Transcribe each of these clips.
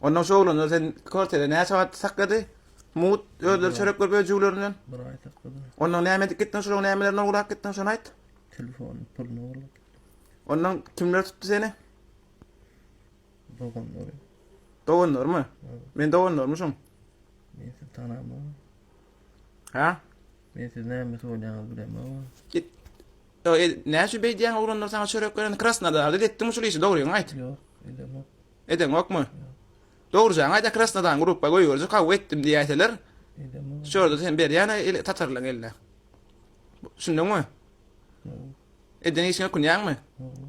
Ondan şu oglanda sen kwartira näçe wagt saklady? Mut özleri çörek görüp öjügleri bilen. Bir aý saklady. Ondan näme edip gitdiň? Şunuň nämelerine ugrap gitdiň? Şony aýt. Telefon pulunu ugrap. Ondan kimler tutdy seni? Doganlary. Doganlarmy? Men doganlarmy şoň? Men seni tanamam. Ha? Men siz näme söýlänini bilemem. Git Ýa ed näçe beýdýäň oglanlar saňa çörek berende krasnadarda edetdiňmi şul işi dogryňy aýt. Ýok edeňok. Edeňokmy? Ýok. Dogryjaňy aýda krasnadan grupba goýberjek hawa etdim diýäýseler. Edeňok. Şurada sen berýän el tatarlaň eline. Düşündiňmi? Ýok. Eden işiňe ökünýäňmi? Ýok.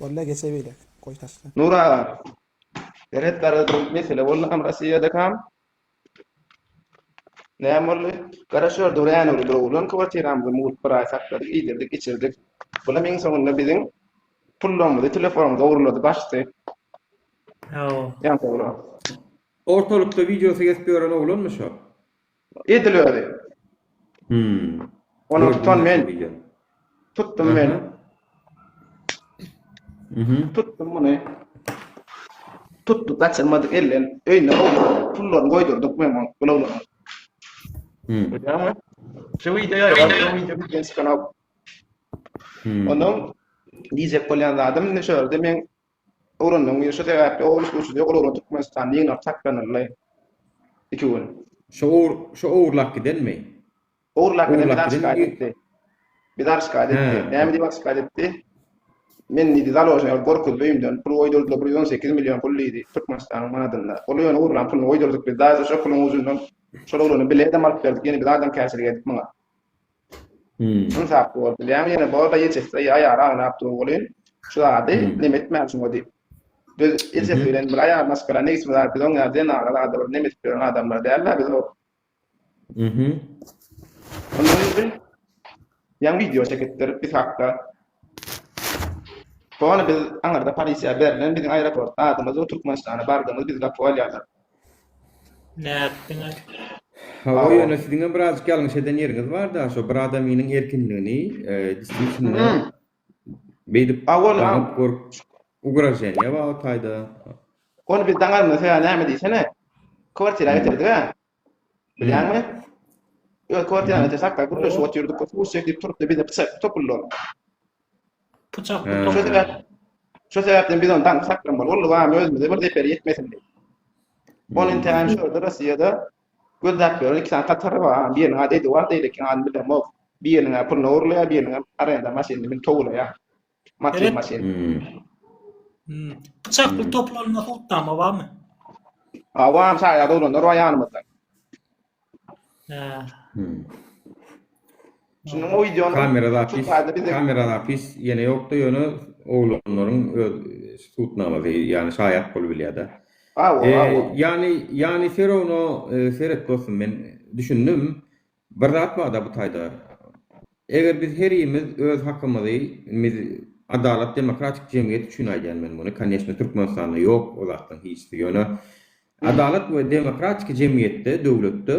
Bolla geçe beýle. Goý taşla. Nur aga. Deret garady mesele boldy hem Rossiýada kam. Näme boldy? Garaşýar Dören öli doglan kwartiramyzy mugt bir aý sakladyk, iýdirdik, içirdik. Bulam iň soňunda biziň pullarymyzy, telefonymyzy ogurlady, başdy. Ýa. Ýa sowra. Ortalykda wideosy kesip ýören oglanmy şo. Edil özi. Hüm. Ony tutan men. Tutdum men. Mhm. Tutdum muny. Tutduk gaçyrmadyk elden. Öýüne pullaryny goýdurdyk men onuň gulaglaryny. Hüm. Görýäňmi? Şu wideo ýa şu wideo bizden çykan ok. Hüm. Onuň diýjek bolýan zadym indi şu ýerde men Öwrendim. Şu sebäpli o üç gurşudy ýogalanlar Türkmenistanda ýygnap saklanyldy. Iki gün. Şo owur, şo owurlap gidenmi? Owurlap giden bizar şikaýat etdi. Bizar şikaýat etdi. Näme diýip şikaýat etdi? Men diýdi, založnyý alyp gorkuzdy öýümden. Pul goýdurdylar, bir ýüz on sekiz million pul diýdi, Türkmenistanyň manadynda. Ol ýöne owurlan puluny goýdurdyk biz. Daýza şo puluň ujundan şol oglany bileýdem alyp berdik. Ýene biz adamkärçilik edip muňa. Ynsap bor bilýäňmi ýene bor da ýejessi eý aýaly aňlap dur welin şu zady neme etmän şuňa diýip biz ýejessi bilen bir aýal maşgala ne işimiz bar biz oň ýaly zenana zada bir neme edip ýören adamlar dälda biz o Ondan öň bir ýaňy wideo çekipdir biz hakda. Hony biz aňyrda polisiýa berlen biziň aeroport adymyz we Türkmenistana bardygymyz biz gapyp alýarlar. Nätdiňiz? Hawa ýöne siziňem birazjyk ýalňyş eden ýeriňiz barda şo bir adamynyň erkinligini distisinde beýdip daňyp görüp ugraženiýa babatayda. Hony biz daňarmyz hä näme diýsene kwartira getirdiga Bilýäňmi? Öz kwartiraňda ýeter sakda gürleşip otyrdyk, köp uruş çekdik, turupdy, bize pyçak topuldy ol. Pyçak bu topuldy. Şo sebäpden biz ony daňyp saklan bol. Ol lybam özümize bir zeper ýetmesin diýip. Ol entägem şu ýerde Rossiýada gözläp ýören iki sany tatary bar. Biriniň ady Eduard, beýlekiniň adyny bilemok. Biriniň-ä puluny ogurlaýar, biriniňem arenda maşynyny münüp towulaýar. Matin matin. Pyçakly toplanma hutnama barmy? Awam saýa doglanlar bar ýanymyzda. Şunuň o wideony kamera zapis kamera zapis ýene ýokda ýöne oglanlaryň öz hutnamasy ýani şaýat bolup bilýärde. Aw, aw. Ýani ýani Ferono seret dostum men düşündim. Bir zat barda bu taýda eger biz herimiz öz hakymyzy miz adalat demokratik jemgyýet üçin aýdýan men muny konýeçne türkmenistanda ýok o zatlaň hiçsi ýöne adalat we demokratiki jemgyýetde döwletde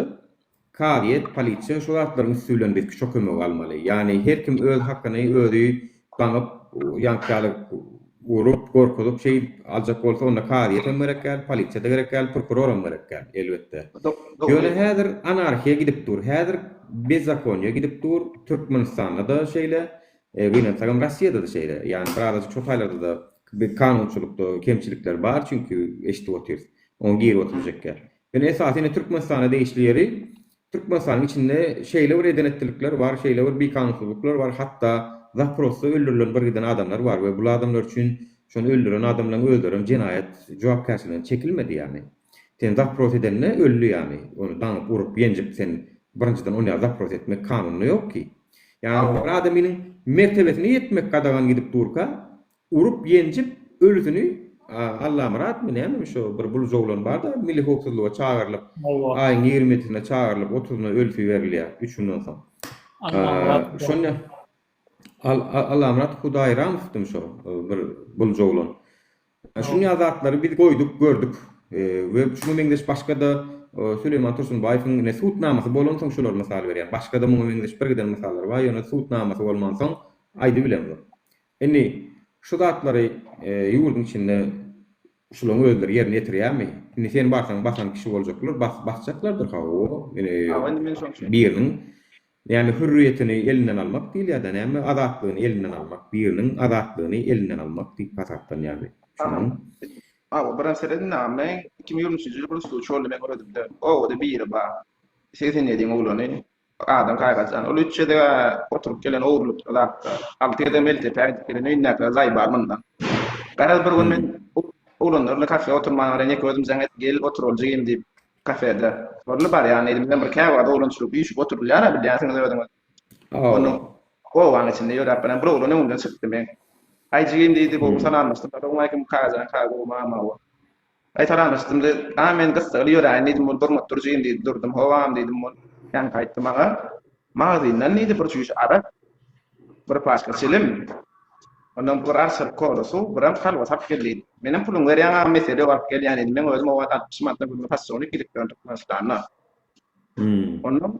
kazyýet polisiýa şu zatlaryň üsti bilen biz kişo kömegi almaly ýagny her kim öz hakyny özi Ganyp, ýaňky ýaly urup, gorkuzyp şeýdip aljak bolsa, onda kazyýet hem gerek däl, polisiýa-da gerek däl, prokuror hem gerek däl, elbetde. Ýöne häzir anarhiýa gidip dur, häzir bezzakonýa gidip dur, Türkmenistanda-da şeýle, gynansagam Rossiýada-da şeýle, ýagny bir azajyk şo taýlarda-da bir kanunçylykda kemçilikler bar, çünki eşidip otyrys, oňa girip oturjak ýaly. Ýöne esasy indi Türkmenistana degişli ýeri, Türkmenistanyň içinde şeýle bir eden etdilikler bar, şeýle bir bikanunsyzlyklar bar, hatda zaprosda öldürilen bir giden adamlar bar we bul adamlar üçin şony öldüren adamlaryň özlerem jenaýat jogapkärçiligine çekilmedi ýagny. Sen zapros edende öldi ýagny, ony daňyp urup ýenjip sen birinjiden ony zapros etmek kanunda ýok ki. Ýagny bir adamynyň mertebesine ýetmek gadagan gidip durka, Urup-ýenjip ölüsini Allamyratmy nämemi şo bir buluja oglan bar-da milli howpsuzlyga çagyrylyp aýyň ýigrimi ýedisinde çagyrylyp otuzynda ölüsi berilýär üç günden soň. Şonda Al Allamyrat Hudaýramowdymy şo bir buluja oglan. Şunýa zatlary biz goýduk gördük we şuňa meňzeş başga-da Süleýman Tursunbaýewiň ine sud namasy bolan soň şolary mysal berýän. Başga-da muňa meňzeş birgiden mysallary bar ýöne sud namasy bolmansoň aýdybilemzok. Indi şu zatlary ýurduň içinde şulaň özleri ýerine ýetirýärmi? Indi sen barsaň basan kişi boljaklar, basjaklardyr hawa, biriniň näme hürriýetini elinden almak diýilýärda, näme azatlygyny elinden almak, biriniň azatlygyny elinden almak diýip hasaplanýardy. Şonuň. Hawa, bir närse seredin agam, men iki müň ýigrimi üçünji ýyl bir üstüni çöldemegi öwredimde, obada biri bar, segsen ýediň oglany, Bir adam saýgarjan. Ol üç gezeg-ä oturyp gelen ogurlykda zatda. Alty gezeg Meltepä gidip gelen. Öýündäkiler zaý bar mundan. Garaz, bir gün men oglanlar bilen kafe oturmana garaýan ýeke özüm jaň etdim. Gel, otur ol jigim diýip, kafede. Boldy, barýan diýdim. Bizem bir käwagt oglançylyk üýşüp oturylýar-a, bilýänsiňiz özüňiz. Onuň gowgaň içinde ýöräp barýan bir oglan öňümden çykdy meň. Aý, jigim diýdi, gowy salamlaşdyk. Salowmaleýkim, Kakajan, kaka gowymy, aman-awa. Gaýtalalyşdym de, A, men gyssagly ýöräýin diýdim, ol durmup durjyn diýdi. Durdum, Howam diýdim, ol ýaňky aýtdy maňa. Magazyndan diýdi, bir çüýş arak, bir paçka çilim, ondan bir arçalyk kola suw, biram halwas alyp gel diýdi. Menem puluňy berýän agam, mesele ýok, alyp gelýän diýdim. Meň özüm owal altmyş manata gülli possolnik ilip ýördük Gürjüstanda. Ondan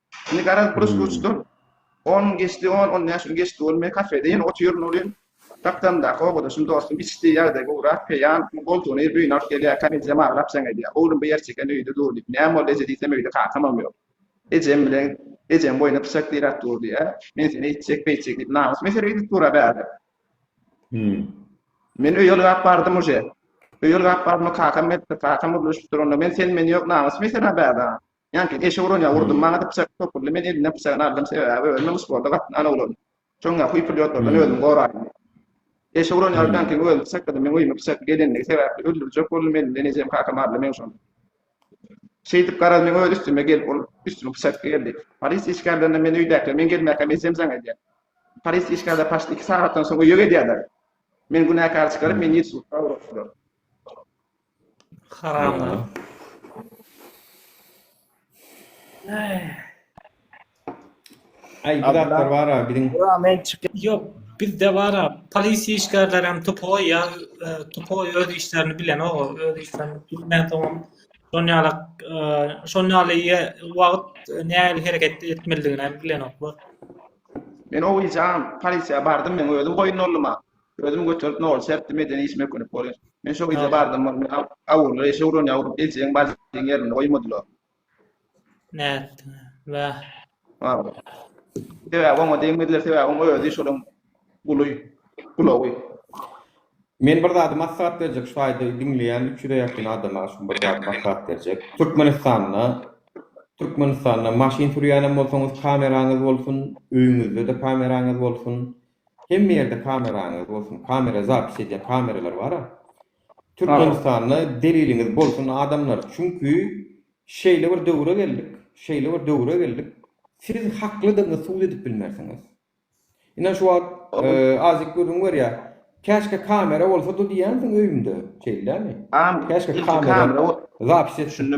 Indi garaz bir uçdur. On gün geçdi, on, on bäş gün geçdi ol. Men kafede ýene otyryn welin, gapdalymdaky obadaşym, dostum içdi, ýagdaýy gowurak, peýan, goltugyny eýip öýüne alyp gelýär. Komedýam aglap jaň edýär. Oglum bu ýer çeken öýde dur diýip. Näme boldy eje diýsem öýde kakamam ýok. Ejem bilen ejem boýna pyçak diräp dur diýýär. Men seni eýtjek, beýtjek diýip namys mesele edip dur-a bärde. Men öýe ylgap bardym uje. Öýe ylgap bardym kakam gelipdir, kakam gürleşipdir onda. Men sen-men ýok namys mesele bärde. Ýaňky, eşek uran ýaly urdum, maňa-da pyçak topuldy, men elinden pyçagyny aldym, sebäbi özüm-ä muş bolda gatyn ana uladym. Şoň ýaly huý-pylýotlardan özümi goraýyn diýip. Eşek uran ýaly Dankiň özüni pyçakladym, meň öýüme pyçakly gelenligi sebäpli öldürjek boldum, elinden ejem, kakam aldy meň şony. Şeýdip, garaz, meň öz üstüme gelip, ol üstümi pyçakly geldi. Polis işgärlerine men öýdäkilere men gelmäkäm ejem jaň edýär. Polis işgärleri paçt iki sagatdan soň öýe gelýärler. Meni günäkär çykaryp, meni ýedi sudka ugratdylar. Haramlar. Ay bir dakika var abi bizim. Bura men çıkıp Yok bizde var ha. Polis işgärler hem tupo ya e, tupo öz işlerini bilen o öz işlerini bilmez o. Şon ýaly e, şon ýaly ýe- wagt e, nähili hereket etmelidigini hem bilen oklar. Men o gece polisiye bardım men özüm koyun oldum ha. Özümi göterip nol sertdi medeni işime könüp bolýar. Men şo gije bardym bolmy awurlar eşe uran ýawrup eljäň barjyň ýerinde goýmadylar. Nätdiň bäh. Wah. Sebäbi oňa degmediler sebäbi oň özi şolaň guly gulawy. Men bir zady maslahat berjek şu aýdy diňleýän üç ýüze ýakyn adama şu bir zady maslahat berjek. Türkmenistanda Türkmenistanda maşyn sürýänem bolsaňyz kameraňyz bolsun öýüňizde-de kameraňyz bolsun Hemme ýerde kameraňyz bolsun kamera zapis edýän kameralar bara Türkmenistanda deliliňiz bolsun adamlar çünki şeýle bir döwre geldik şeýle bir döwre geldik siz haklydygyňyz subut edip bilmersiňiz inan şu wagt azyk gürrüň berýä käşke kamera bolsady diýýänsiň öýümde şeýdilärmi käşke kamera zapis etsin.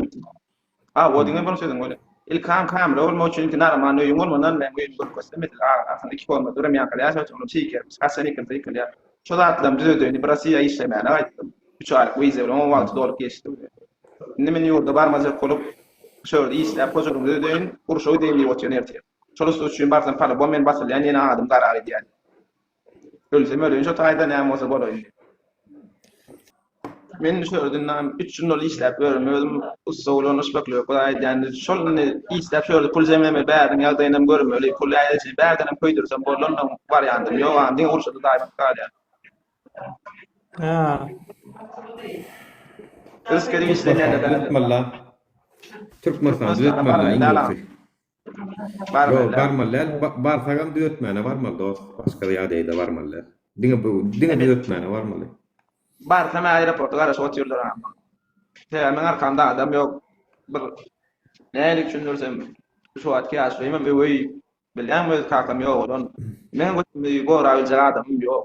A o diňe bir sözüň öne. Ilkam kamera bolmak üçin ilki naraman öýüň bolmandan men öýümi görüp görsem edil a aslynda iki komnat örem ýaňky ýaşap çykylyp çykermiş haçan ýykylsa ýykylýar şo zatlarymy düzedeýini bir rossiýa işlemäne gaýtdym üç aýlyk wiza bilen oň wagty dolup geçdi bile indi men ýurda barmajak bolup şo ýerde işläp hojalygymy düzedeýin urşa gideýin diýip otyryn ertir şol ussy üçin barsam palubom men basylýan ýene adym gara gidýän. Ölsem öleýin şo taýda näme bolsa bolaýyn diýip. Men düşerdim näme üç ýyl ol işläp ýörün özüm ussa bolan uşbekler bir aýdýan şol indi işläp şöýle pul jemleme bäriň ýagdaýynam görmeli pul äýleje bärdenem köýdürsem bolanam barýandym ýok a diňe urşa daýyp galýar. Hä. Üsküdä işleýän eden. Türkmenistan düzetmeli iň bolsa. Bar Ýok, barmaly däl. Ba- Barsagam düýetmäne barmaly dost. Başga bir ýagdaýda barmaly däl. Diňe bu, diňe Ebe- düýetmäne barmaly. Barsam aeroporta garaşyp otyrlar ama. Sebäbi meň arkamda adam ýok. Bir nähili üçindirsem şu wagtky ýaşulimem öweý. Bilýäňmi öz kakam ýogalan. Meň götümi gora biljek adamym ýok.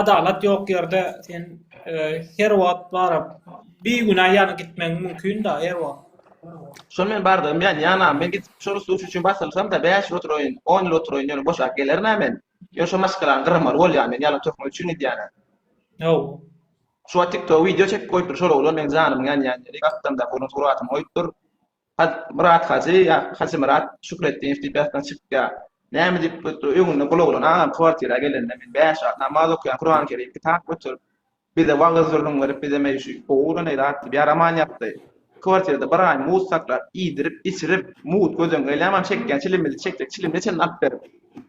Adalat ýok ýerde sen her wagt baryp bigünä ýanyp gitmegiň mümkinda her wagt. Şol men bardygym bilen ýana men gidip şo rus duşy üçin basylsamda bäş ýyl oturaýyn on ýyl oturaýyn ýöne boşap gelermä men ýöne şo maşgalany gyramaly bolýa men ýalan töhmet üçin gidýänä. Hawa. Şu wagt tiktoga wideo çekip goýupdyr şol oglan meň janymyň ýanýan ýeri gapdamdaky oglan suratym goýupdyr. Myrat Hajy ýa Hajymyrat Şükretdinow diýip ýatdan çykýar. Näme diýip bu öňünde bulawlan agam kwartira gelende men bäş wagt namaz okaýan Kuran Kerim kitap göterip bize wagyz gürrüň berip bizem eý şu gowuda ne zat diýip ýaraman ýatdy. Kwartirada bir aý muz saklap iýdirip içirip muz gözüň gelýäman çekýän çilimizi çekjek çilimine çenli alyp berip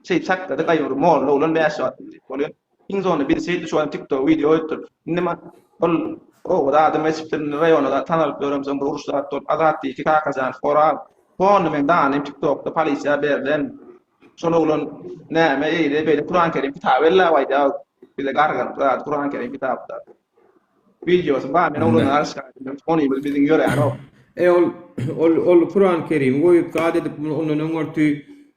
şeýdip saklady gaýury molla oglan bäş wagt diýip bolýar. Iň soňunda biz şeýtdi şu adam tiktok wideo goýupdyr. Indi man ol oba da adam geçipdir indi raýona da tanalyp ýöremsoň bir uruş zat bolup Azat diýdi ki Kakajan Horab fonda meň danym tiktokda polisiýa berlen şol oglan näme eýle beýle Kuran Kerim kitaby ellap aýdýa bize garganyp zat Kuran Kerim kitapda wideosy bar men oglana garşy aýdym onymiz biziň ýöränok. Eý ol ol ol Kuran Kerimi goýup zat edip ondan öňürti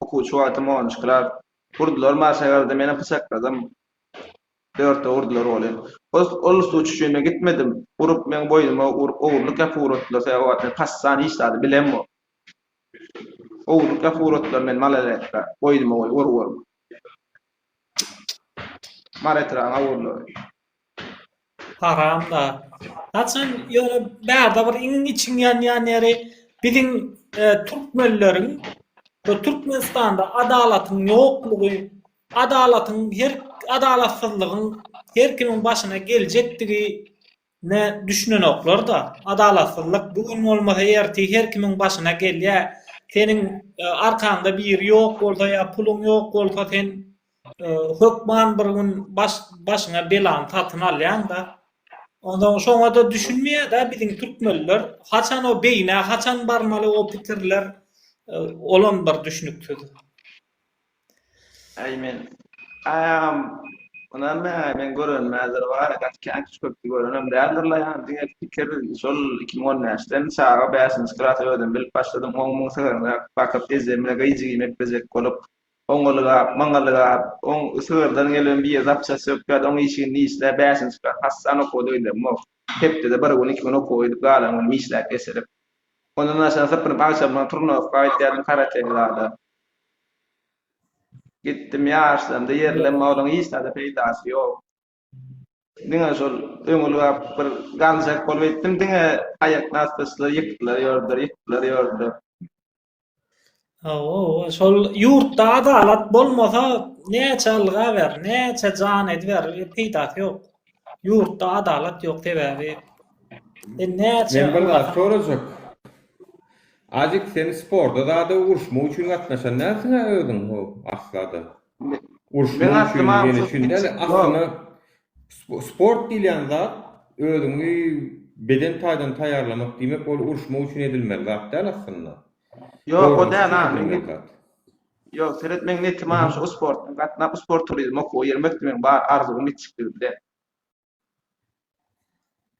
Okuwçy wagtym onunjy klas. Urdular marşa garada menem pyçakladym. Dörtde urdular goly. Ol usta uçuşyna gitmedim. Urup meň boýnuma ogurlyk ýapyp ugratdylar sebäbi o wagt men passan hiç zady bilembok. Ogurlyk ýapyp ugratdylar meni malaletka boýnuma goýup ur ur. Mar etrabyň ogurlary. Haramda. Haçan ýöne bärde bir iň içiň ýanýan ýeri biziň e, türkmenleriň bu Türkmenistanda adalatyň ýoklugy, adalatyň her adalatsyzlygyň her kimiň başyna geljekdigi ne düşünenoklar-da. Adalatsyzlyk bu gün bolmasa ertir her kimiň başyna gelýär. Seniň e, arkaňda biri ýok bolsa ýa puluň ýok bolsa sen Hökman bir gün baş başyňa belany satyn alýaň-da. Onsoň şoňa-da düşünmeýär-de biziň türkmenler. Haçan o beýnä, haçan barmaly o pikirler, olam bir düşnüksiz. Äý men, äý agam, ynanmaýaňaý men görenimä ýer bar-a, gaty känkiç köpdi görenem däldir-la ýa-ni diňe pikir, şol iki müň on bäşden çaga bäşinji klasa özüm bilip başladym, on müň sigirini bakyp, eje mine gyýjyk iýmek bejek bolup, Oňalygap, maňalygap, oň sygyrdan gelen bije zapças sökýärdi, oň işigini dişläp, bäşini çykaryp, hassan okuwa döýdemok. Hepdede bir gün, iki gün okuwa gidip, galan günüm işläp, eselip. Ondan daşyna sypynyp, agşamlaň turnowka gitýärdim karateli zada. Gitdim, ýaşlandy, ýerlenme, olaň hiç zada peýdasy ýok. Diňe şol öňalygap bir galjak bolup etdim, diňe aýaknasty açdylar, ýykdylar, ýordular, ýykdylar, ýordular. Hawa, şol ýurtda adalat bolmasa, näçe ylga ber, näçe jan ediber, peýdasy ýok. Ýurtda adalat ýok, sebäbi sen näçe Men bir zat sorajak. Azyk, sen sporda zada uruşmak üçin gatnaşan dälsiň-ä özüň, ho, aslada. Uruşmak üçin, ýene şindi, asyna Sport diýilýän zat özüňi beden taýdan taýýarlamak diýmek ol uruşmak üçin edilmeli zat däl aslynda. Ýok o däl ha men gep. Ýok seret meň netim ha şu sportdan gatnap sport turizm okuwa girmek meň bar arzuwym itjikligimde.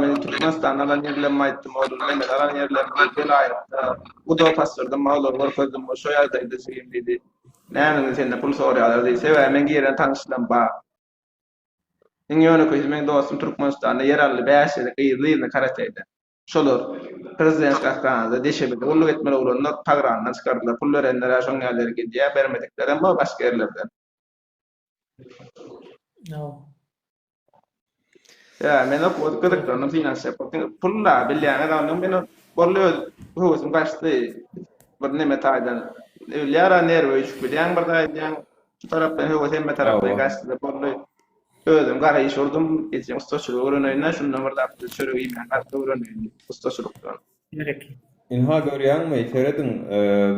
Men Türkmenistanda alan ýerlerimi aýtdym, ol Mehmet alan ýerlerimi welaýatda guda basdyrdym, olara görkezdim, ol şo ýagdaýda jigim diýdi. Näme indi senden pul sorýarlar diýdi, sebäbi meň ýerden tanyşlygym bar. Iň ýönekeýsi meň dostum Türkmenistanda ýer aldy, bäş ýeri gyzly-ýzly karateýde. Şolar Prezident gahryhanasyna deşebili gulluk etmeli oglanlar pagrandan çykardylar, pul berenler-ä şoň ýaly ýere gidýär, bermediklerem bar başga ýerlerden. Ya men o koduk kızıklarını finans yapıp, pul da bilýän adamdan men bolly öz höwesimi kaçtı. Bir neme taydan. Ölyara nerve üçüp bilýän bir taydan. Şu tarafdan höwes hemme tarafdan kaçtı. Bolly özüm gara iş urdum. Etjek ustaçylyk öwreneyine şundan bir zat çörek iýmän gaty öwreneyim ustaçylykdan. Bereket. Ynha görýäňmi, serediň,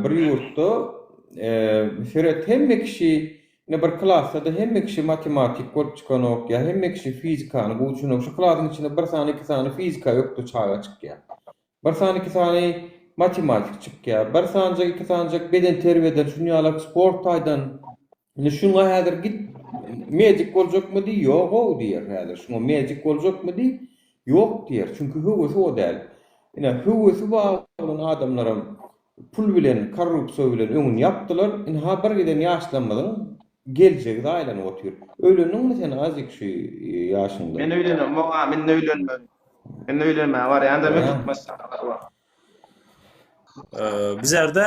bir ýurtda seret, hemme kişi, ine bir klasda-da hemme kişi matematik bolup çykanok, ýa hemme kişi fizikany gowy düşünok. Şu klasyň içinde bir sany, iki sany fizika ökde çaga çykýar. Bir sany, iki sany matematik çykýar. Bir sanjak, iki sanjak bedenterbiýeden, şuny ýalak sport taýdan Indi şuňa häzir git medik boljakmydy? Ýog-ow diýer häzir. Şuňa medik boljakmydy? Ýok diýer. Çünki höwesi o däl. Ine, höwesi bar bolan adamlaram pul bilen, korrupsiýa bilen öňüni ýapdylar. Indi ha bir giden ýaşlarymyzyň geljegi zaýalanyp otyr. Öýlendiňmi sen Azik şu ýaşyňda? Men öýlenem, moňa men öýlenmerin. Men öýlenmäge barýan-da, men Türkmenistana barýan. Bizerde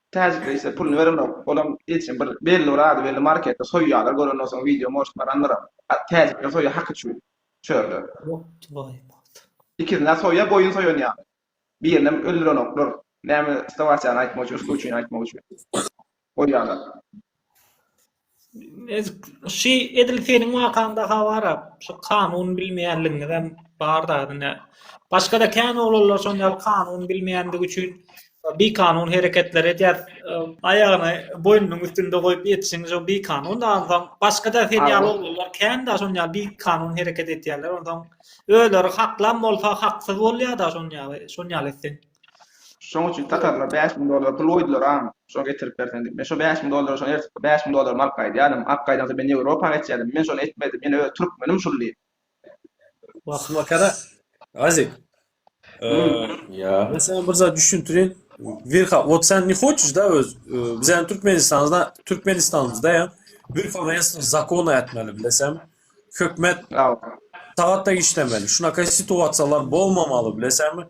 Täjikler ise puluny berenok olam eçe bir belli bir ady belli marketde soýýalar gören olsaň wideo moşt barandyram a täjikler soýýa haky çüý çörler. Ikisine soýa goýun soýan ýaly. Birinem öldürenoklar. Näme stawasýany aýtmak üçin, usky üçin aýtmak üçin. Goýýalar. Ezik şy edil seniň wakaňda ha bara şu kanun bilmeýänligiňizem bar da ine başgada kän oglanlar şon ýaly kanun bilmeýändigi üçin bir kanun hereketler edýär aýagyny boýnunyň üstünde goýup ýetişiň şo bir kanun da onsoň başgada sen ýaly oglanlar kän da şon ýaly bir kanun hereket edýärler onsoň özleri haklam bolsa haksyz bolýar da şon ýaly şon ýaly etseň. Şoň üçin tatarlar bäş müň dollara pul goýdular-am, şony getirip berseň diýip. Men şo bäş müň dollary şony ertip, bäş müň dollarymy alyp gaýdýardym. Alyp gaýdansoň men Ýewropa geçýärdim. Men şony etmedim. Men öz türkmenim şul diýip. Wah-wah Kara. Aziz. Ýa. Men saňa bir zat düşündirin. Wirha, wot sen ne hoçeş da öz biziň Türkmenistanda, Türkmenistanymyzda ýa bir poresni zakon ätmeli bilesem. Hökmet. Sagatda işlemeli. Şunaka situasiýalar bolmamaly bilesem.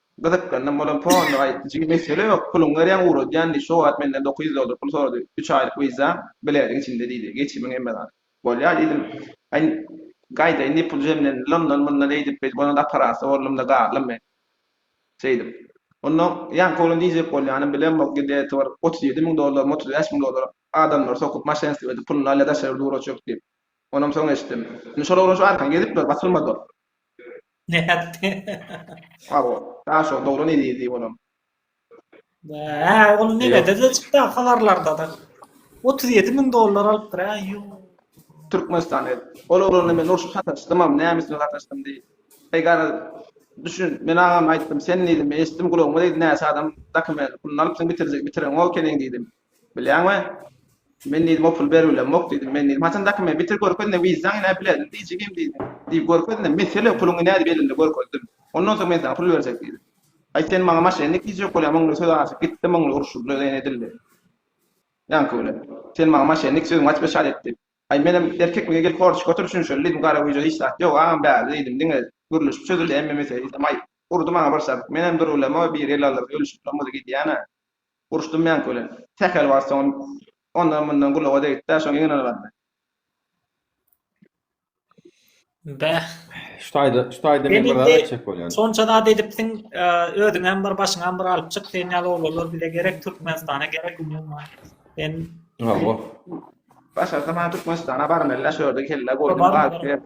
Gyzyklandan bolan fonly aýytdyjy, Mesele ýok, puluňy berýän ugradýan diý, şo wagt menden dokuz ýüz dollar pul sorady, üç aýlyk wiza, bileziň içinde diýdi, geçimiň hemme zady. Bolýa diýdim. Aý, gaýdaýyn diýip pul jemlendi, londan-mundan eýdip-beýdip onuň aparasy boldum-da galdym men. Şeýdip. Onda ýaňky oglan diýjek bolýanym, bilemok, gdeti bir otuz ýedi müň dollarymy, otuz bäş müň dollary adamlara sokup, maşenstwo edip, puluny alýa, daşary ýurda ugratjak diýip. Onam soň eşitdim. Indi şol oglan şu arkan gezip dur, basylmady ol. Nätdi? Sag bol. Daş ol dogry nedir diýip olam. Hä, ol nenedir-de çykda habarlarda-da. Otuz ýedi müň dollar alypdyr, hä, ýuu. Türkmenistan ed. Ol oglana men urşa sataşdymam, näme üçin sataşdym diý. Egara düşün, men agama aýtdym, sen diýdim, eşitdim gulagyma diýdi näçe adam dokument, puluny alypsyň bitirjek, bitireňok ekeniň diýdim. Bilýäňmi? Men diýdim, o pul berilmok diýdim. Men diýdim, haçan dokument bitir görkezin-de, wizaň ine bilerin diý jigim diýdim. Diý görkezin-de, mesele puluň ine diýip elimde görkezdim. Ondan soň men saňa pul berjek diýdim. Aý sen maňa maşennik diýjek bolýaň, muňly söz açyp gitdi, muňly urşuldy, ýene edildi. Ýaňky bilen. Sen maňa maşennik sözüňi açyp eşat etdi. Aý menem erkekmige gelip horçuk otur şunça ýyl diýdim, garagüýje hiç zat ýok, agam bärde diýdim, diňe gürleşip çözüldi, emme mesele diýsem aý, urdy maňa bir şabyk. Menem dur bilem-oý, bir ýyl aldyr, ölüşip-lam muzy gidýän-ä. Uruşdym men köle. Sähel bar soň ondan-mundan gulaga degdi-dä, şoň iňňin ylgady. Bäh. Şu taýda, şu taýda men bir zat etjek bolýan. Şonça zat edipsiň, özüňem bir, başyňam bir alyp çyk, sen ýaly oglanlar bize gerek, Türkmenistana gerek, umuman. Sen Hawa. Başarsa maňa Türkmenistana barmaly-dä, şu ýerde kelle goýdum, galyp.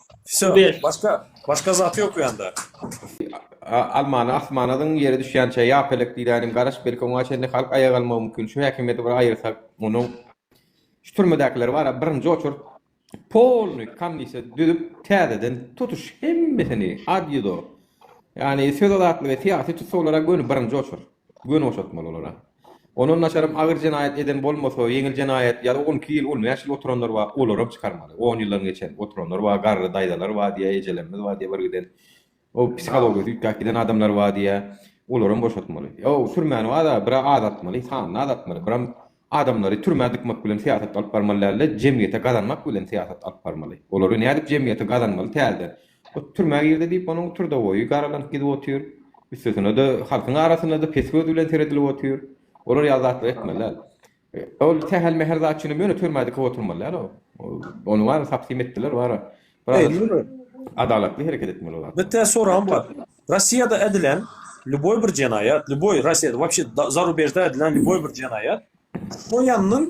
Wsyo, Ber. başga, başga zat ýok bu ýanda. A, Almany asmana zyň, ýere düşýänçä ýa pelek diýdäýnim, garaş, belki oňa çenli halk aýaga galmagy mümkin. Şu häkimiýeti bir aýyrsak, munuň şu türmedäkiler bar-a, birinji oçurt polny kamnise düzüp, täzeden tutuş hemmesini ad ýudo, ýagny söz azatlygy, syýasy tussaglara göni birinji oçur, göni boşatmaly olara. Ondan naçaram agyr jenaýat eden bolmasa, ýeňil jenaýat ýa-da on iki ýyl, on bäş ýyl oturanlar bar, olaram çykarmaly. On ýyldan geçen oturanlar bar, garry daýzalar bar diýýär, ejelerimiz bar diýýär bir giden. O psihologiyasy üýtgäp giden adamlar bar diýýär. Olaram boşatmaly. Ýok, türmäni bar-a, biraz azaltmaly, sanyny azaltmaly. Biram adamlary türmä dykmak bilen syýasat alyp barmaly däldi, jemgyýete gazanmak bilen syýasat alyp barmaly. Olary nädip jemgyýete gazanmaly täzeden? Ot türmä girdi diýip, onuň turdaboýy garalank gidip otyr. Üstesine-de, halkyň arasynda-da pes göz bilen seredilip otyr. Olar ýaly zatlary etmeli däl. Ol sähel-mähel zat üçinem ýöne türmä dikip oturmaly däl ol. Ony bar, tapsim etdiler, bar. Adalatly hereket etmeli ol zat. Bir tä soragym bar. Rossiýada edilen lýuboý bir jenaýat, lýuboý, Rossiýada, wapşe, zarubejde edilen lýuboý bir jenaýat, şo ýandan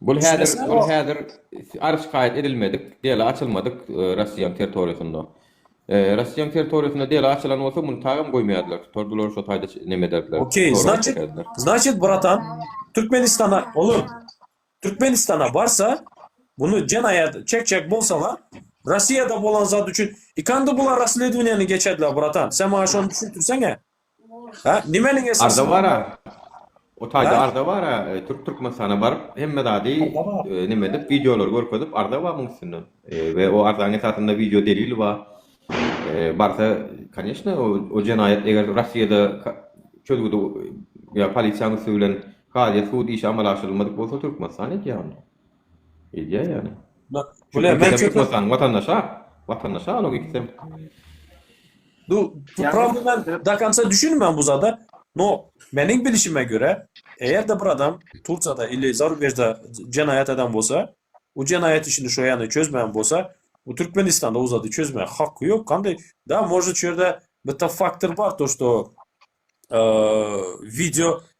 Bul häzir bul häzir arz şikaýat edilmedik, dela açylmadyk Russiýanyň territoriýasynda. Russiýanyň territoriýasynda dela açylan bolsa muny tagam goýmaýardylar. Tutardylar şo taýda neme ederdiler. Okey, znaçit, znaçit bratan, Türkmenistana, olar Türkmenistana barsa, bunu jenaýat çekjek bolsalar, Russiýada bolan zat üçin, ikandi bular rassledwiniýany geçerdiler bratan. Sen maňa şony düşündirseňä. Ha, nimeniň Arda bar-a. O taýda arda bar-a. Türk Türkmenistana baryp, hemme zady neme edip, wideolary görkezip, arda bar muň üstünde. We o arzaň esasynda wideo delili bar. Barsa, kanyeshna, o jenaýat eger Rossiýada çözgüdi ýa polisiýanyň üsti bilen kazyýet, sud işi amala aşyrylmadyk bolsa, Türkmenistan edýär onda. Edýär ýaly. Bak, bu ne? Men çekip goýsaň, watandaşa, watandaşa onuň ikisem. Bu promo men do konca düşünmän bu zada. No, meniň bilişime görä, eger-de bir adam Turkiýada ili zarubejde jenaýat eden bolsa, o jenaýat işini şo ýany çözmän bolsa, o Türkmenistanda o zady çözmäge haky ýok. Kandy, da, možda şu ýerde bitta faktor bar, to, şto, video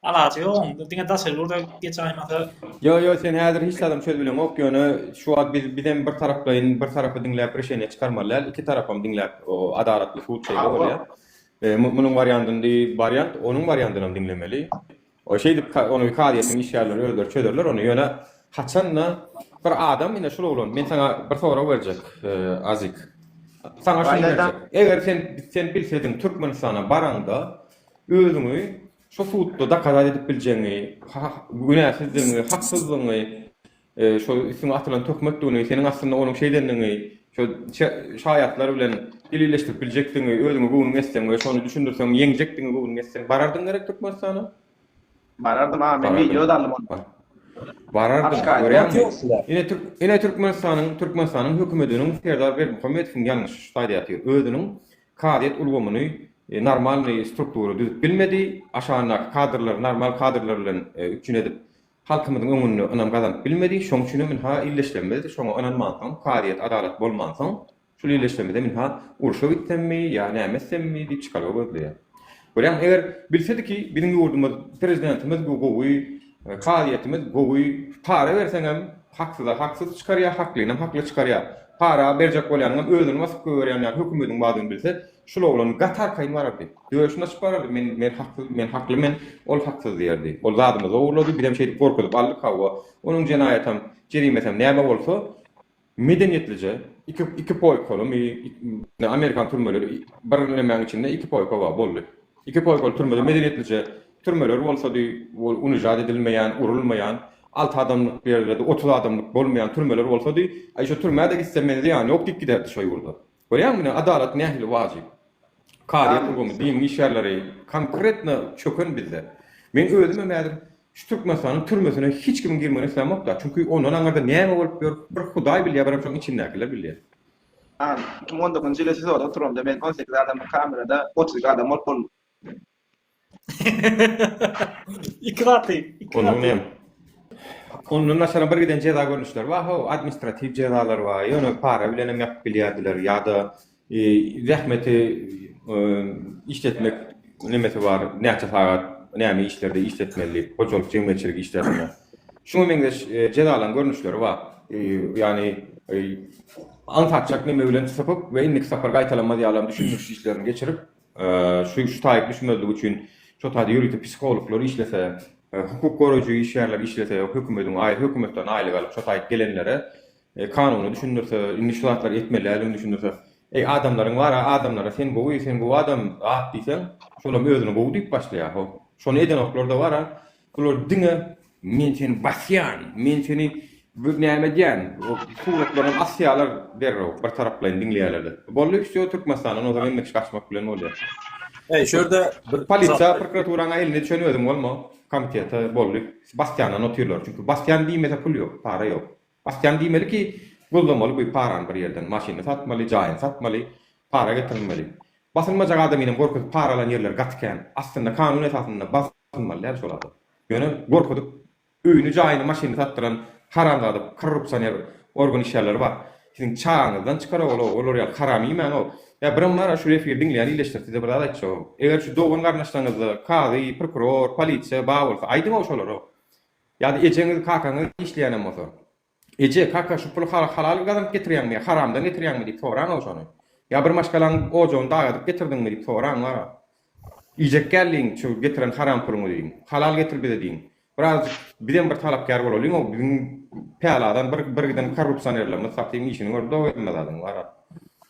Alaja ýok onda diňe daşary ýurda geç aýmasa. Ýo ýo sen häzir hiç zadam çözübileňok ýöne şu wagt biz bizem bir taraplaýyn bir tarapy diňläp rişeniýe çykarmaly däl iki tarapam diňläp adalatly sud şeýle bolýar munuň wariandyny wariant onuň wariandynam diňlemeli o şeýdip ony kazyýetiň işgärleri özleri çözerler ony ýöne haçanda bir adam ine şul oglan men saňa bir sorag berjek azik saňa şunu eger sen sen bilsediň türkmenistana baraňda özüňi Şu sudda dakaza edip biljegiňi, günäsizdigiňi, haksyzdygyňy, şol üstüňe atylan töhmetdigini, seniň aslynda onuň şeýdendigini, şol şaýatlar bilen delilleşdirip biljekdigiňi özüňe göwnüň ýetseň we şony düşündirseň ýeňjekdigiňe göwnüň ýetseň barardyň gerek Türkmenistana? Barardym aga men wideo da aldym onda. Barardyň görýäňmi? Ine türk ine Türkmenistanyň Türkmenistanyň hökümetiniň Serdar Berdimuhamedowyň ýalňyş ştaýda ýatyr. Özüniň Kazyýet ulgamyny normalnyý struktura düzüp bilmedi, aşagyndaky kadrlary normal kadrlar bilen üpjün edip, halkymyzyň öňünde ynam gazanyp bilmedi. Şoň üçin hem ynha illeşlemizdi. Şoňa ynanmansoň, kazyýet adalat bolmansoň, şul illeşlemizem ynha urşa gitsemmi ýa näme etsemmi diýip çykalga gözleýär. Görýäňmi, eger bilsediki, biziň ýurdumyz, prezidentimiz bu gowy, kazyýetimiz gowy, para berseňem, haksyza haksyz çykarýar, haklynam hakly çykarýar. Para berjek bolýanyňam özüni basyp goýberýän ýaly hökümediň bardygyny bilse, şul oglan gaty arkaýyn barardy. Döşüni açyp barardy, Men, men haksyz, men hakly, men, ol haksyz diýerdi. Ol zadymyzy ogurlady, bizem şeýdip gorkuzyp aldyk, hawa, onuň jenaýatam, jerimesem näme bolsa, Medeniýetlije iki iki poýkalymy ne amerikan türmeleri bir nemäň içinde iki poýka bar boldy. Iki poýkaly türmede medeniýetlije türmeler bolsady ol unijat edilmeýän urulmaýan alty adamlyk ýerlerde otuz adamlyk bolmaýan türmeler bolsady aý şu türmä-de gitse men zyýany ýok diýip giderdi şo ýurda. Görýäňmi, adalat nähili wajyp. Kazyýet ulgamy, diniň işgärleri konkretno çöken bizde. Men özümem häzir şu Türkmenistanyň türmesine hiç kimiň girmegini islämok-da, çünki ondan aňyrda näme bolup ýör, bir Hudaý bilýär, birem şoň içindäkiler bilýär. An, iki müň on dokuzynjy ýyly SIZO-da oturamda men on sekiz adamly kamerada otuz iki adam bolup boldum. İki gaty. iki Onuň gaty. näme? Ondan daşary bir giden jeza görnüşleri bar. Ho, administratiw jezalar bar. Ýöne para bilen hem ýapyp bilýärdiler ýa-da e, zähmeti e, işletmek nemesi bar. Näçe sagat näme işlerde işletmeli, hojalyk jemgyýetçilik işlerinde. Şuňa meňzeş e, jezalaryň görnüşleri bar. E, ýagny e, aňsatjak neme bilen sypyp we indiki sapar gaýtalanmaz ýalam düşündiriş işlerini geçirip, Şu şu taýyp düşmezlik üçin şo taýda ýörite psihologlar işlese, hukuk goraýjy işgärler işlese, hökümediň aý hökümetden aýlyk alyp şo taýyp gelenlere kanuny düşündirse, indi şu zatlary etmelidigini düşündirse. Eý adamlaryň bara adamlara sen gowy sen gowy adam at diýseň şolam özüni gowy diýip başlaýar ho şony edenoklarda bara Bular diňe men seni basýan, men seni bir näme edýän, suratlaryňy asýalar derrew bir taraplaýyn diňleýäler-de. Boldy wsýo Türkmenistandan ozal hemme kişi gaçmak bilen bolýar. Eý şu ýerde bir polisiýa prokuraturaň elinde düşen özüň bolma komitete boldy basýandan otyrlar çünki basýan diýmese pul ýok para ýok basýan diýmeli ki gözlemeli bu parany bir ýerden maşyny satmaly jaýyny satmaly para getirmeli basylmajak adamyny görkezip para alan ýerleri gaty kän aslynda kanun esasynda bas Tynmaly däl şol adam. Ýöne gorkuzyp öýüni jaýyny maşynyny satdyran haramzada korrupsioner organ işgärleri bar. Siziň çagaňyzdan çykar ogul ow olar ýaly haram iýmäň ow. Ýa birem bar şu efir diňleýän ileşdir size bir zat aýtjagym. Eger şu dogan garyndaşlaryňyzda kazy, prokuror, polisiýa bar bolsa aýdyň ow şolara. Ýa-da ejeňiz, kakaňyz işleýänem bolsa. Eje, kaka, şu puly halalyň gazanyp getirýäňmi-ýa, haramdan getirýäňmi? diýip soraň-ow şony. Ýa bir maşgalaň ojagyny dag edip getirdiňmi? diýip soraň, wara. Iýjek däl diýiň, şu getiren haram puluňy diýiň. Halal getir bize diýiň. Biraz bizem bir talapkär bolalyň-ow, biziň päladan bir giden korrupsionerlerimiz, satyň işini gördi-ow hemme zadyň, wara.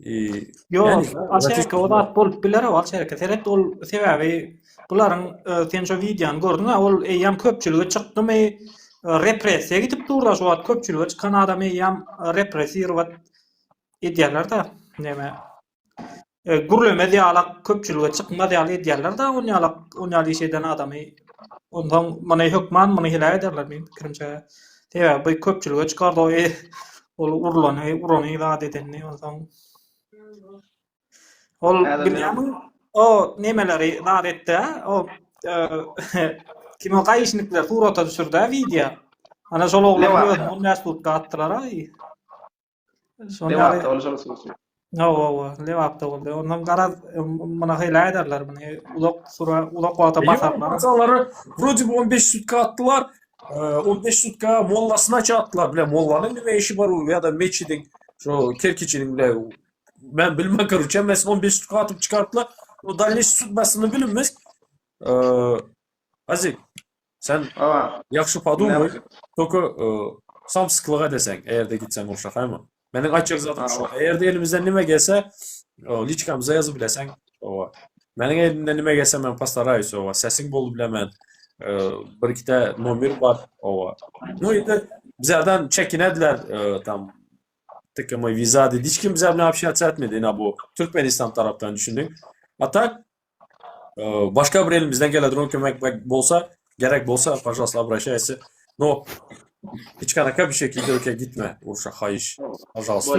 Ýok, aşereke o zat bolup biler, o aşereke seret, ol sebäbi bularyň sen şu wideony gördüň, ol eýýäm köpçülige çykdymy, repressiýa gidip durla şu wagt köpçülige çykan adam eýýäm repressiýować edýärler-de, näme, gürlemez ýalak köpçülige çykmaz ýaly edýärler-de, ol ýalak, ol ýaly iş eden adamy, onsoň muny hökman muny heläk ederler, meniň pikirimçe. Sebäbi köpçülige çykardy o e, ol urlany, urany zat edeni onsoň. Ol Häzir bilýärmi? men- O nemeleri zat etdi, o e, kim o gaýyşnikler surata düşürdi, wideo. Ana şol oglany Lewata. özüni on bäş pudka atdylar, aý. Lebapda bolsa bolsun. Hawa, hawa, Lebapda boldy. Ondan garaz muna hile ederler meni. Uzak sura, uzak wagta basarlar. Bazalary wrodi 15 sutka atdylar. 15 sutka mollasyna çatdylar. Bile mollanyň nime işi bar we ýa-da meçidiň şu kerkiçiniň bile men bilmän görüçem mes 15 sutka atyp çykartdylar. O dalleş sudbasyny bilinmez. Azik. Sen ýagşy podumay, toka samsyklyk edeseň, eger-de gitseň urşa, haýmy? Meniň aýtjak zadym şu, eger-de elimizden nime gelse, liçkamyza ýazyp bileseň, oba. Meniň elimden nime gelse, men postaraýus, oba, sesiň boldy bile men, bir-ikide nomer bar, oba. No, indi bizeden çekinediler, tam, tiki moý vizady, hiç kim bize bilen apşýatsiýa etmedi, ina bu Türkmenistan tarapdan, düşündiň. A tak, Başga bir elimizden gele duran kömek bolsa, gerek bolsa, pažalosla abraşaýasy. No, içkanaka bir şekilde öke gitme, urşa haýyş, pažalosla.